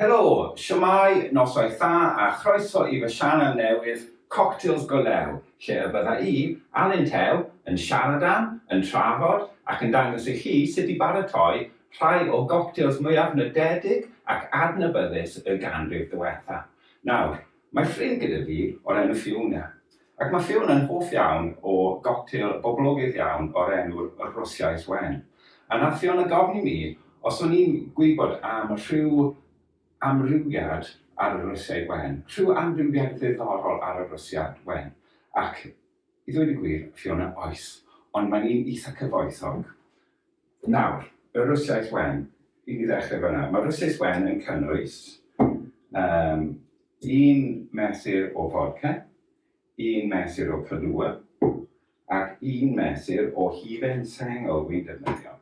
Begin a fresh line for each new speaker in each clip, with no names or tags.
Helo! Shwmae, noswaith dda a chroeso i fy sianel newydd, Cocktails Go Lew, lle y bydda i, Alun Tew, yn siarad am, yn trafod ac yn dangos i chi sut i baratoi rhai o goctêls mwyaf nodedig ac adnabyddus y ganrif ddiwetha'. Nawr, Mae ffrind gyda fi o'r enw Fiona, ac mae Fiona'n hoff iawn o goctêl boblogaidd iawn o'r enw Rwsiaidd Wen. A nath Fiona gofyn i mi os o'n i'n gwybod am rhyw amrywiad ar y Rwsiaidd Wen, rhyw amrywiad ddiddorol ar y Rwsiaidd Wen. Ac, i ddweud y gwir, Fiona, oes, ond mae'n un eitha cyfoethog. Nawr, y Rwsiaidd wen, i ni ddechrau fan'na. Mae'r Rwsiaidd wen yn cynnwys um, un mesur o fodca, un mesur o Kahlua, ac un mesur o hufen sengl wy'n defnyddio.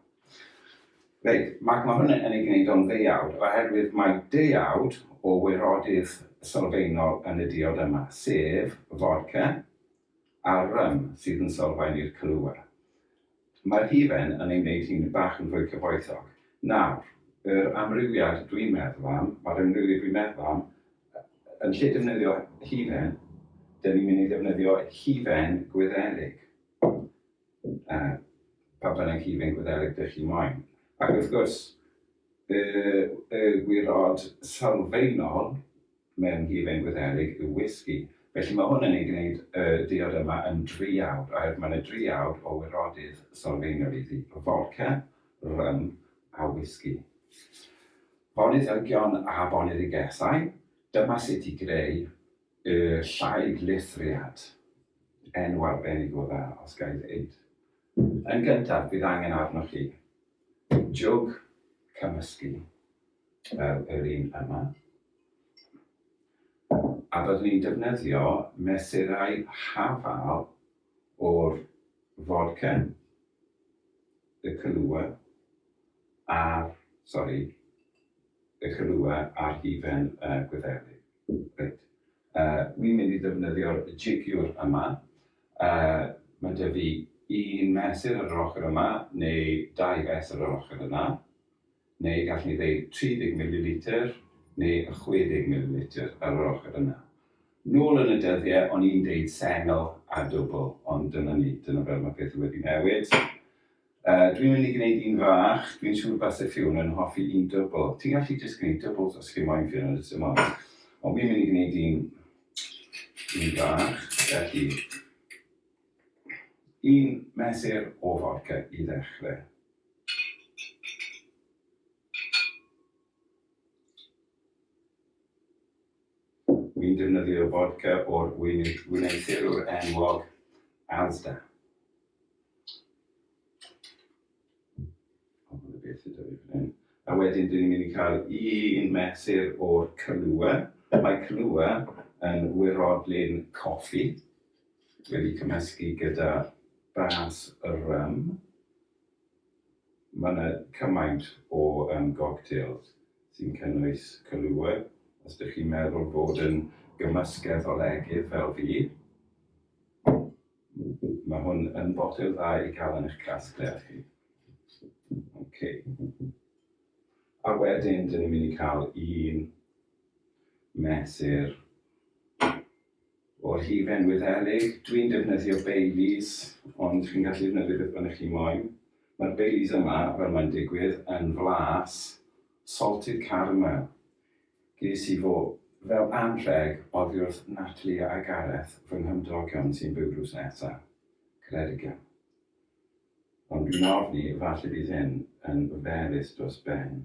Reit, mae ma hwn yn ei gwneud o'n ddeuawd, oherwydd mae deuawd o wirodydd sylfaenol yn y diod yma, sef fodca, a'r rym sydd yn sylfaen i'r clywau. Mae'r hufen yn ei wneud hi'n bach yn fwy cyfoethog. Nawr, yr amrywiad dwi'n meddwl am, mae'r amrywiad dwi'n meddwl am, yn lle defnyddio hufen, dyn ni'n mynd i ddefnyddio hufen Gwyddelig, yy, pa bynnag hufen Gwyddelig dych chi moyn. Ac wrth gwrs, y, y gwirod sylfaenol Mewn hufen Wyddeleg yw whisky. Felly mae hwn yn ei gwneud y diod yma yn driawd, oherwydd mae yna driawd o wirodydd sylfaenol iddi, fodca, rym a whisky. Bonnydd Elgion a Bonnydd y Gesau, dyma sut i greu y llaig lithriad. Enw arbennig o dda, os ga i ddeud. Yn gyntaf, bydd angen arnoch chi jwg cymysgu fel yr un yma. a byddwn ni'n defnyddio mesurau hafal o'r fodcen, y cylua a'r, sori, y cylua a'r hufen y Gwyddelig. Reit, wi'n mynd i ddefnyddio'r jigiwr yma, mae 'da fi un mesur ar yr ochr yma neu dau fesur ar yr ochr yna. neu gallwn ni ddeud 30 mililitr neu y 60 mililitr ar yr ochr yna. Nôl yn y dyddiau o'n i'n deud sengl a dwbl ond dyna ni, dyna fel mae pethau wedi newid. Yy dwi'n mynd i gwneud un fach, dwi'n siŵr base Ffion yn hoffi un dwbl. Ti'n gallu jyst gwneud dwbls os chi moyn Ffion yn y tymor. Ond fi'n mynd i gwneud un un fach, felly un mesur o fodca i ddechrau. Ni'n defnyddio fodca o'r wneuthurwr enwog Asda. A wedyn dyn ni'n mynd i cael un mesur o'r Kahlua. Mae Kahlua yn wirodlyn coffi wedi cymysgu gyda bas rym. Mae yna cymaint o yym gogtêls sy'n cynnwys cylluedd, os dych chi'n meddwl bod yn gymysgedd o legydd fel fi, mae hwn yn botel dda i gael yn eich casgliad chi. Ok. A wedyn, dyn ni'n mynd i cael un mesur O'r hufen Wyddeleg, dwi'n defnyddio Baileys, ond chi'n gallu defnyddio beth bynnag chi moyn. Mae'r Baileys yma, fel mae'n digwydd, yn flas, salted caramel. Ges i fo fel anrheg oddi wrth Natalie a Gareth, fy nghymdogion sy'n byw drws nesa. Credigion. Ond dwi'n ofni, falle bydd hyn yn oferus dros ben.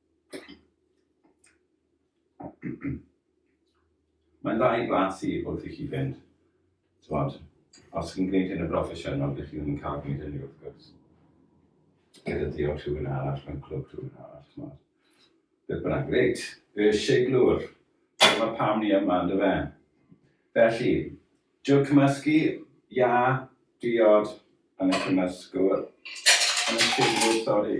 Mae'n dda i glas i wrth i chi fynd. Tywod, os chi'n gwneud hyn yn broffesiynol, dych chi ddim yn cael gwneud hynny wrth gwrs. Gyda diolch rhywun arall, mae'n clwb rhywun arall, tywod. Beth bynnag, reit, y siglwr. Dyma pam ni yma, ynddo fe. Felly, diolch cymysgu, ia, diod, yn y cymysgwr, yn y siglwr, sori.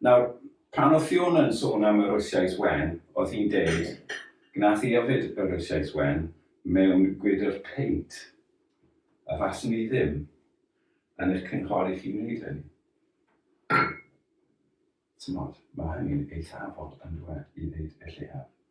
Nawr, pan oedd Fiona yn sôn am y Rwsiaidd wen, oedd hi'n deud, gwnaeth hi yfed y Rwsiaidd wen mewn gwydr peint, a faswn i ddim yn eich cynghori chi wneud hynny. Timod, mae hynny'n eitha' aml, yn dyw e, i ddeud y lleiaf.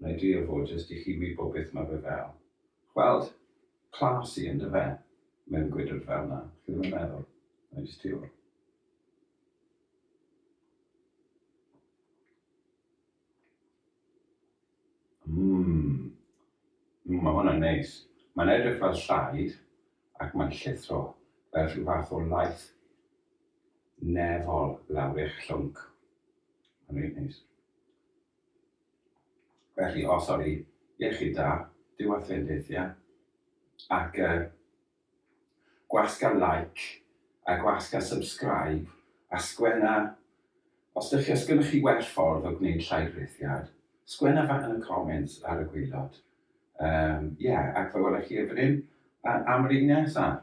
Wna i drio fo jyst i chi wybod beth mae fe fel. Gweld? Classy yn dy fe? Mewn gwydr fel na. Chi ddim yn meddwl? Wna i jyst ti ôl. Mmm. Mmm, mae hwnna'n neis. Mae'n edrych fel llaid ac mae'n llithro fel rhyw fath o laeth nefol lawr eich llwnc. Mae'n reit neis. Felly, o sori, iechyd da, dyw a ffrind eithia, ac uh, gwasg a like, a gwasg a subscribe, a sgwenna, os ydych chi, os gennych chi well ffordd o gwneud llai breithiad, sgwenna fa yn y comments ar y gwylod. Um, yeah, ac fe welech chi efo hyn, am yr un nesaf.